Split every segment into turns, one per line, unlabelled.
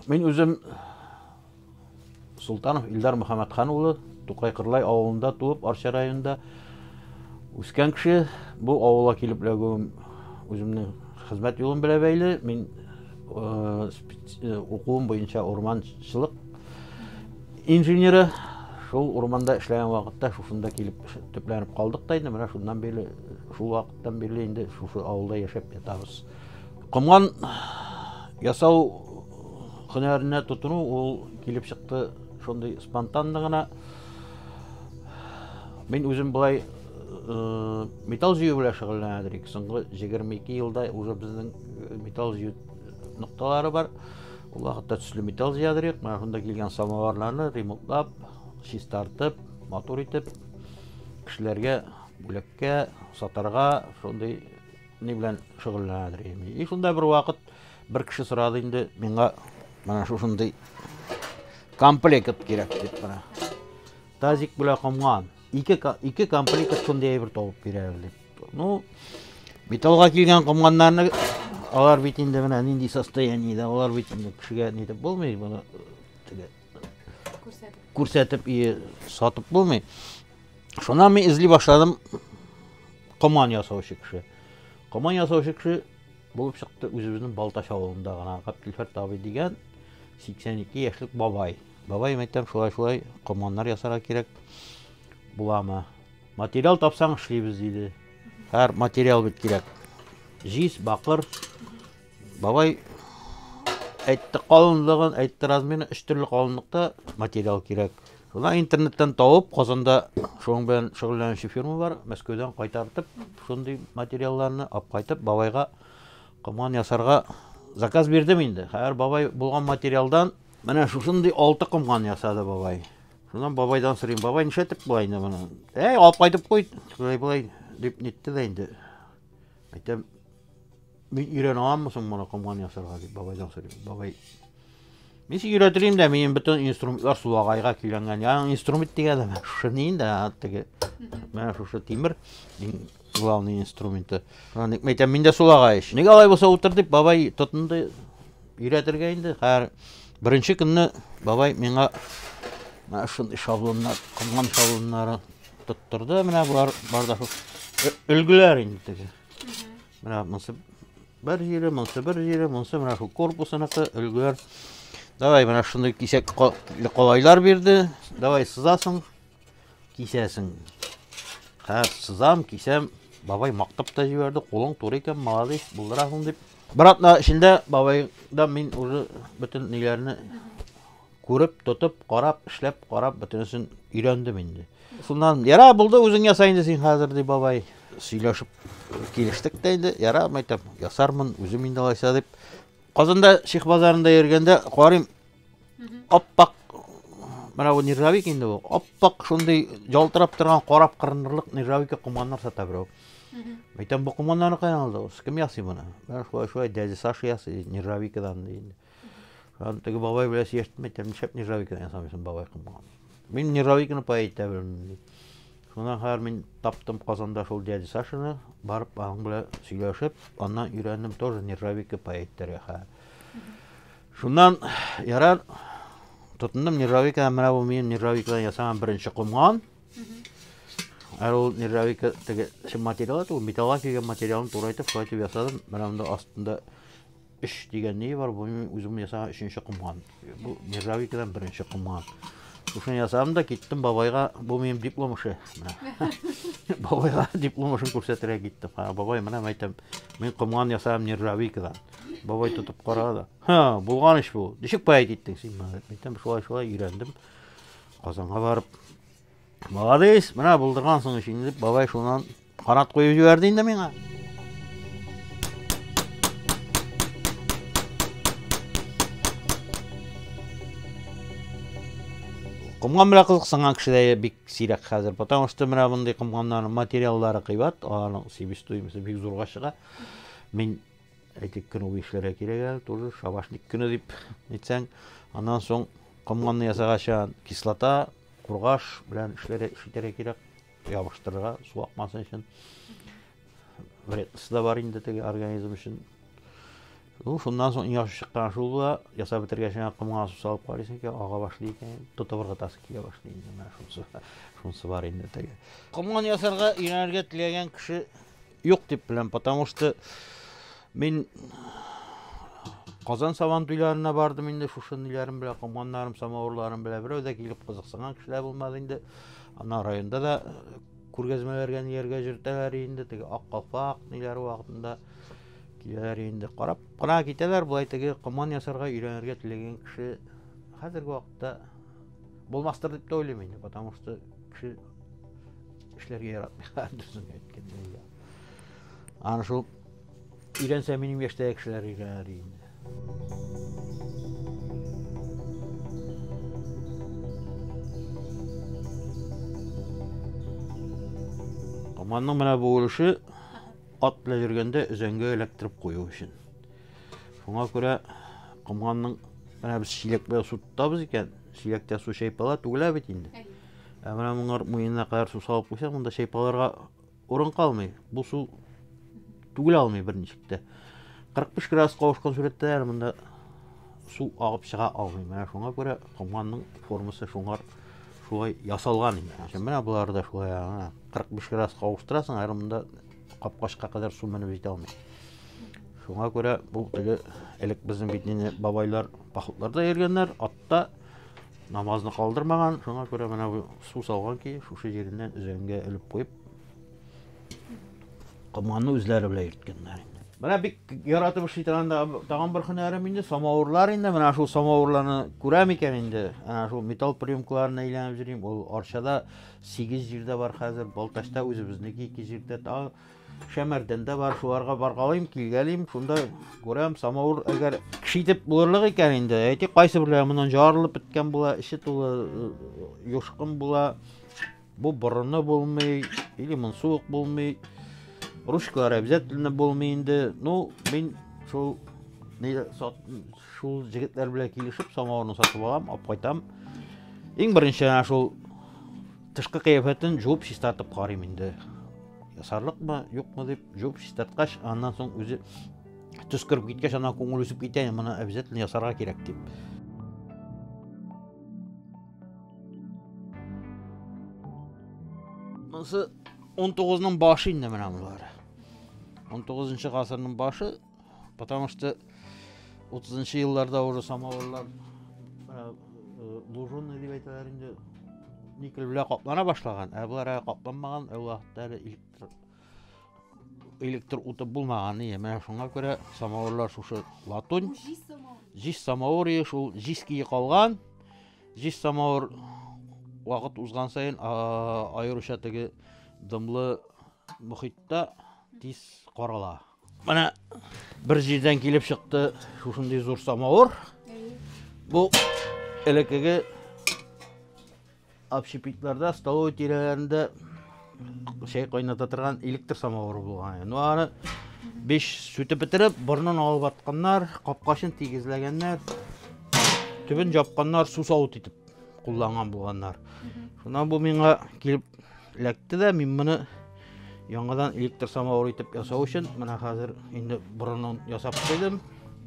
Мин үзем Султанов Илдар Мөхәммәтхан улы, Тукай Кырлай авылында туып, Арча районында үскән кеше. Бу авылга килеп эләгүем үземнең хезмәт юлым белән бәйле. Мин э, э, укуым буенча урманчылык инженеры. Шул урманда эшләгән вакытта шушында килеп төпләнеп калдык та инде. Менә шуннан бирле, шул вакыттан бирле инде шушы авылда яшәп ятабыз. Комган ясау һөнәренә тотыну ул килеп чыкты шундый спонтанно гына. Мин үзем былай э, металл җыю белән шөгыльләнә дирек. Соңгы 22 елда уже безнең э, металл җыю нокталары бар. Ул вакытта төсле металл җыя дирек. Менә шунда килгән самоварларны ремонтлап, чистартып, матур итеп кешеләргә бүләккә, сатарга шундый Ни белән шөгыльләнәдер Эмиль. И шунда бер вакыт бер кеше сорады инде миңа менә шушындый комплект кирәк дип менә. Тазик белән комган. Ике, ике комплект шундый әйбер табып бирәбез дип. Ну, металлга килгән комганнарны алар бит инде менә нинди состояниедә, алар бит инде кешегә нитеп булмый, моны күрсәтеп и сатып булмый шуннан мин эзли башладым коман ясаучы кеше коман ясаучы кеше булып чыкты үзебезнең балтач авылында гына габделфәрт абый дигән 82 яшьлек бабай бабай мәйтәм шулай шулай команнар ясарга кирәк буламы материал тапсаң эшлибез диде һәр материал бит кирәк җиз бакыр Бабай әйтте калынлыгын, әйтте размерын, өч төрле калынлыкта материал кирәк. Шуна интернеттан тауып, Казанда шуның белән шөгыльләнүче фирма бар, Мәскәүдән кайтартып, шундый материалларны алып кайтып, бабайга комган ясарга заказ бирдем инде. Хәзер бабай булган материалдан менә шушындый алты комган ясады бабай. Шуннан бабайдан сорыйм, бабай нишләтеп була инде моны? Әй, алып кайтып куй, шулай-болай дип нитте дә инде. Әйтәм, Мин өйрәнә аламмы соң моны комган ясарга дип бабайдан сорыйм. Бабай Мин сине өйрәтелим дә, минем бөтен инструментлар сулагайга көйләнгән. Яның инструмент дигәндә менә шушы ни инде, теге менә шушы тимер иң главный инструменты. Шуны ник мәйтәм, мин дә сулагай ич. Нигә алай булса утыр дип бабай тотынды өйрәтергә инде. Хәер, беренче көнне бабай миңа менә шундый шаблоннар, комган шаблоннары тоттырды. Менә болар бар да өлгеләр инде теге. Менә монсы бер җире, монсы бер җире, монсы менә шул корпусыныкы, өлгер. Давай менә шундый кисәк колайлар бирде. Давай сызасың, кисәсең. Хәзер сызам, кисәм. Бабай мактап та җибәрде, кулың туры икән, молодец, булдырасың дип. Братна атна эчендә бабайдан мин уже бөтен ниләрне Күреп, тотып, карап, эшләп, карап, бөтенесен өйрәндем инде. Шуннан, яра, булды, үзең яса инде син хәзер, ди бабай. Сөйләшеп килештек тә инде, яра, мәйтәм, ясармын, үзем инде алайса дип. Казанда Ших базарында йөргәндә карыйм, аппак менә бу нержавик инде бу аппак шундый ялтырап торган карап кырынырлык нержавика комганнар сата берәү мәйтәм бу комганнарны каян алдыгыз кем ясый моны менә шулай шулай дядя саша ясый нержавикадан ди Аны теге бабай беләс яшьтән әйтәм, нишләп нержавейканы ясамыйсың, бабай кымган. Мин нержавейканы пай итә белмим, ди. Шуннан хәзер мин таптым Казанда шул дядя Сашаны, барып аның белән сөйләшеп, аннан өйрәндем тоже нержавейка пай итәргә хәзер. Шуннан ярар тотындым нержавейканы, менә бу минем нержавейкадан ясаган беренче комган. Ә ул нержавейка теге чын материал, ул металлга килгән материалны турайтып, шулай итеп ясадым. Менә монда астында Өч дигән ни бар, бу мин үзем ясаган өченче комган. Бу нержавейкадан беренче комган. Шушыны ясадым да киттем бабайга, бу минем диплом эше. Бабайга диплом эшен күрсәтергә киттем. Ха, бабай, менә мәйтәм, мин комган ясадым нержавейкадан. Бабай тотып карады. Ха, булган эш бу. Ничек поэт иттең син моны? Мәйтәм, шулай-шулай өйрәндем. Казанга барып, Молодец, менә булдыргансың өчен инде бабай шуннан канат куеп җибәрде инде миңа. Комган белән кызыксынган кешеләр бик сирәк хәзер, потому что менә мондый комганнарның материаллары кыйбат, аларның себестоимосты бик зурга чыга. Мин Әйтик, көн үги эшләргә кирәк әле, тоже шабашник көне дип әйтсәң. Аннан соң комганны ясаганча кислота, кургаш белән эшләргә ишетергә кирәк, ябыштырырга, су акмасын өчен. Вредносы да бар инде теге организм өчен. Ну, шуннан соң иң яхшы чыккан шул була, ясап бетергәч, комга су салып карыйсың икән, ага башлый икән, тотып ыргытасы килә башлый инде, менә шунысы, шунысы бар инде теге. Комган ясарга өйрәнергә теләгән кеше Юк дип беләм, потому что мин Казан сабан туйларына бардым инде шушы ниләрем белән, комганнарым, самавырларым белән. Берәү дә килеп кызыксынган кешеләр булмады инде. Ана районда да э, күргәзмәләргә ниләргә җөртәләр инде, теге ак калфак ниләр вакытында киләләр инде. Карап кына китәләр, болай теге коман ясарга өйрәнергә теләгән кеше хәзерге вакытта булмастыр дип тә уйлыйм инде, потому что кеше Эшләргә яратмый, дөресен әйткәндә. я. Аны шул өйрәнсә минем яшьтәге кешеләр өйрәнер инде. Команның менә бу өлеше ат белән йөргәндә өзәнгә эләктереп кую өчен. Шуңа күрә комганның менә без чиләк белән су тотабыз икән, чиләктә су чайпала, түгелә бит инде. Ә менә моңар муенына кадәр су салып куйсаң, монда чайпаларга урын калмый. Бу су түгел алмый берничек тә. 45 градус кавышкан сурәттә әле монда су агып чыга алмый. Менә шуңа күрә комганның формасы шуңар шулай ясалган инде. Ә менә болар да шулай, ана 45 градус кавыштырасың, әле монда капкачка кадәр су менеп җитә алмый. Шуңа күрә бу теге элек безнең бит инде бабайлар походларда йөргәннәр, атта Намазны калдырмаган, шуңа күрә менә бу су салган ки, шушы җиреннән өзәнгә элеп куеп, комганны үзләре белән йөрткәннәр. Менә бик яратып эшли торган тагын бер һөнәрем инде, самавырлар инде. Менә шул самавырларны күрәм икән инде. Менә шул металл приемкаларын әйләнеп йөрим. Ул Арчада 8 җирдә бар хәзер, Балтачта үзебезнеке 2 җирдә, тагы Шәмәрдән дә бар, шуларга баргалыйм, килгәлим, шунда күрәм, самавыр әгәр кеше итеп булырлык икән инде, әйтик, кайсы берләре моннан жарылып беткән була, эче тулы э, юшкын була, бу борыны булмый, или монсы ук булмый, ручкалар обязательно булмый инде. Ну, мин шул шул җегетләр белән килешеп, самавырны сатып алам, алып кайтам. Иң беренче шул Тышкы кыяфәтен жуып чистартып карыйм инде. Ясарлыкмы, юкмы дип жуып чистарткач, аннан соң үзе төс кереп киткәч, ана күңел үсеп китә, моны обязательно ясарга кирәк дип. Монысы 19-ның башы инде менә булар. 19-нчы гасырның башы Потому что 30 елларда уже самоварлар э, э, лужунный дип әйтәләр инде никель белән каплана башлаган, ә болар әле капланмаган, ә вакытта әле электр электр уты булмаган ие. Менә шуңа күрә самоварлар шушы латунь. Җис самовар ие, шул җис кие калган. Җис самовар вакыт узган саен аеруча теге дымлы мөхиттә тиз карала. Менә бер җирдән килеп чыкты шушындый зур самавыр. Бу элеккеге общепитларда, столовый тирәләрендә чәй кайната торган электр самавыры булган. Ну аны биш сүтеп бетереп, борнын алып атканнар, капкачын тигезләгәннәр, төбен жапканнар, су савыт итеп кулланган булганнар. Шуннан бу миңа килеп эләкте дә, мин моны Яңадан электр самавыр итеп ясау өчен менә хәзер инде борынын ясап куйдым.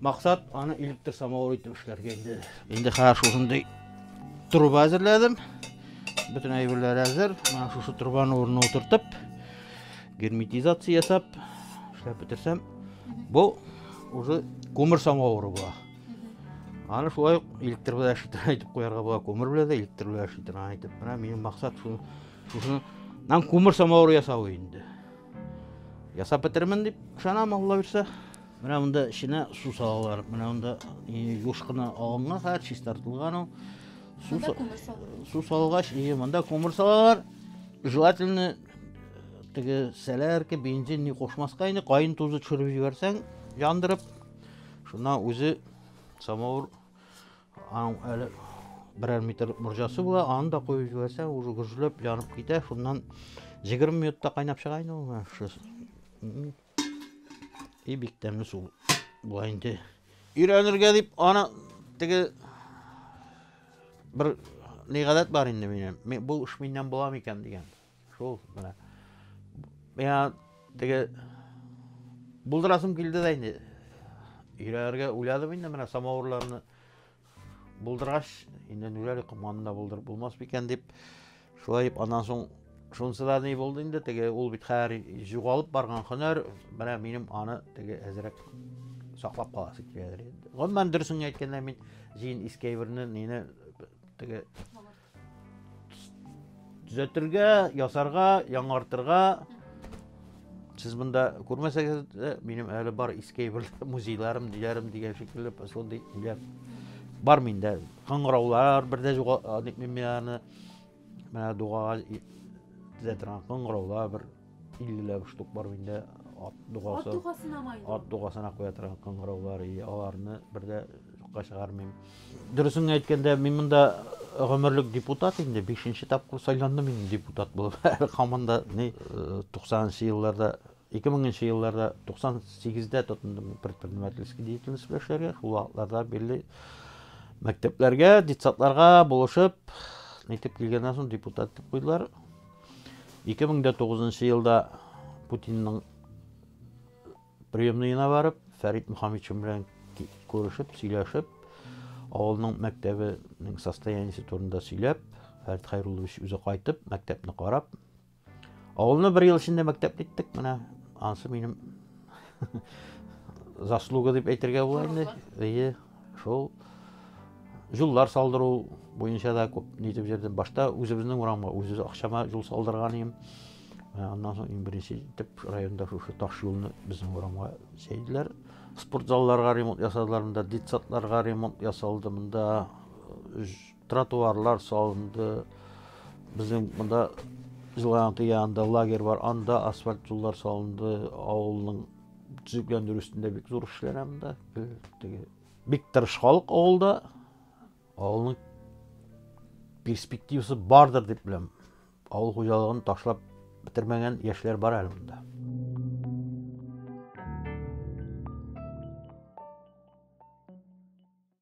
Максат аны электр самавыр итеп эшләргә инде. Инде хәзер шушындый труба әзерләдем. Бөтен әйберләр әзер. Менә шушы трубаны урынына утыртып, герметизация ясап эшләп бетерсәм, бу уже күмер самавыры була. Аны шулай ук электр белән әшеттерә итеп куярга була, күмер белән дә электр белән әшеттерә итеп. Менә минем максат шул шушы нам кумыр самауыр ясау инде ясап бетермен дип ышанам алла бирсә менә монда эченә су салалар менә монда юш кына алынган хәзер чистартылган ул су салгач монда күмер салалар желательно теге сәләрке бензин не кушмаска инде кайын тузы төшереп җибәрсәң яндырып шуннан үзе самауыр Аның әле берәр метр морҗасы була, аны да куеп җибәрсәң, уже гөжләп янып китә. Шуннан 20 минутта кайнап чыга инде ул. И бик тәмле су була инде. Өйрәнергә дип аны теге бер ни гадәт бар инде минем. Бу эш миннән була микән дигән. Шул менә. Миңа теге булдырасым килде дә инде. Өйләргә уйладым инде менә самавырларны булдыргач, инде ниләр команы да булдырып булмас микән дип, шулай дип аннан соң шунысы да ни булды инде, теге ул бит хәзер югалып барган һөнәр, менә минем аны теге әзрәк саклап каласы киләдер инде. Гомумән дөресен әйткәндә мин җин искәйберне, нине теге Төзәтергә, ясарга, яңартырга. Сез монда күрмәсәгез, минем әле бар иске бер музейларым, диләрем дигән шикелле шундый иләр бар миндә. Кыңгыраулар бердә юга, ник мин аны менә дуга төзәтергә кыңгыраулар бер 50 штук бар инде ат дугасы. Ат дугасына ма инде? Ат дугасына куя торган кыңгыраулар, и аларны бер дә юкка чыгармыйм. Дөресен әйткәндә, мин монда гомерлек депутат инде, 5нче тапкыр сайландым мин депутат булып. Һаман да ни 90нчы елларда 2000 елларда 98-дә тотындым предпринимательский деятельность белән эшләргә. Шул вакытларда бирле мәктәпләргә, детсадларга булышып, нитеп килгәннән соң депутат дип куйдылар. 2009 нчы елда Путинның приемныена барып, Фәрит Мөхәммедшин белән күрешеп, сөйләшеп, авылның мәктәбенең состояниесе турында сөйләп, Фәрит Хайруллович үзе кайтып, мәктәпне карап, авылны бер ел эчендә мәктәп иттек, менә ансы минем заслуга дип әйтергә була инде. Шул юллар салдыру буенча да күп нитеп җөрдем. Башта үзебезнең урамга үзебез акчама юл салдырган идем. Ә, аннан соң иң беренче итеп районда шушы таш юлны безнең урамга чәйделәр. Спорт залларга ремонт ясадылар, монда детсадларга ремонт ясалды, монда э, тротуарлар салынды. Безнең монда Жыланты янында лагерь бар, анда асфальт юллар салынды, авылның төзекләндерү өстендә бик зур эшләр анда теге бик тырыш халык авылда авылның перспективасы бардыр дип беләм авыл хуҗалыгын ташлап бетермәгән яшьләр бар әле монда